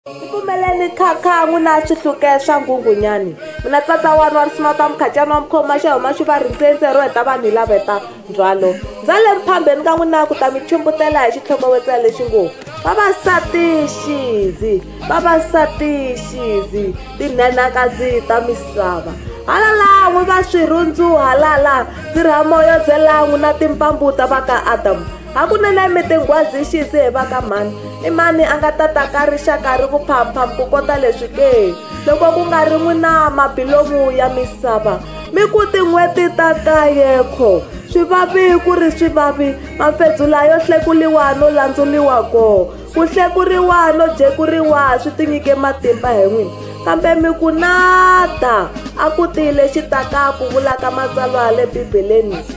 Tipfumeleni kha kha n'wina swihluke swa nghunghunyani mina tsatsa wani wa risima ta mukhacani wa mukhoma xa huma xi va rindzeindze ro heta vanhu hi lava heta ndzhwalo ndza le mphambeni ka n'wina ku ta mi chumbutela hi xitlhokovetsela lexi ngo vavasati xizi vavasati xizi tinhenhakadzi ta misava halala n'wi va swirhundzu halala ndzi rhamo yo byela n'wina timpambu ta va ka adamu a ku na na mi tinghwazi xisi hi va ka mhani i mani a nga ta ta ka rixaka ri ku phamphamu ku kota leswi ke loko ku nga ri n'wi na mabilomu ya misava mi ku tin'hweti ta kayekho swi vavi ku ri swi vavi mafedzula yo hlekuriwa no landzuriwa koho ku hlekuriwa no jekuriwa swi tinyike matimba hi n'wini kambe mi ku nada a ku tile xitaka ku vulaka matsalwa le bibeleni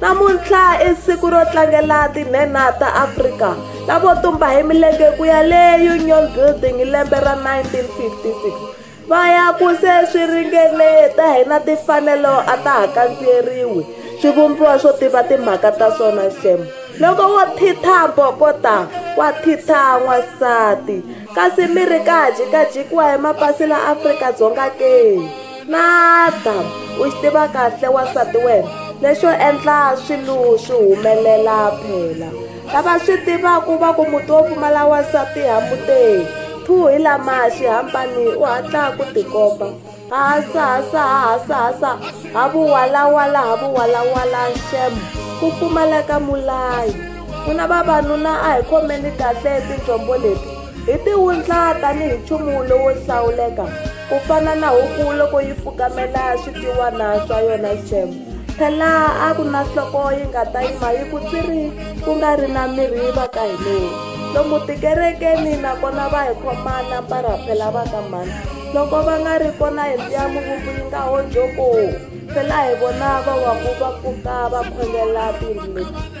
Namuntlha i siku ro tlangela tinhenha ta Afrika lavo tumba hi milenge ku ya le Union Building hi lembe ra 1956 va ya ku se swi ringene ta hina timfanelo a ta ha kandziyeriwi swivumbiwa swo tiva timhaka ta swona xem loko wo thitha bokota wa thitha n'wansati kasi mi ri ka jikajikiwa hi mapasi la afrika dzonga ke Madam, u xi tiva kahle wansati wena lexo endla swilo swi humelela phela lava swi tivaka va ku muti wo pfumala wansati hamuteki phu hi lama xihambani u hatla ku tikomba hasa hasa hasa hasa ha vuwalawala ha vuwalawala xemo ku pfumaleka mulayi ku na vavanuna a hi khomeni kahle tinjombo leti Hi ti wundla tanihi nchumu lowo hlawuleka, ku fana na huku loko yi fukamela switiwana swa yona xem. Phela a ku na nhloko yi nga ta yima yi ku tsiri ku nga ri na mirhi va ka hi leyi. Lomu tikerekeni nakona va hi khoma na mparaphela va ka mhani. Loko va nga ri kona hi mbiya muvumbi yi nga ho jokoo. Phela hi vona va waku va pfuka va khongela tiyindlu leti.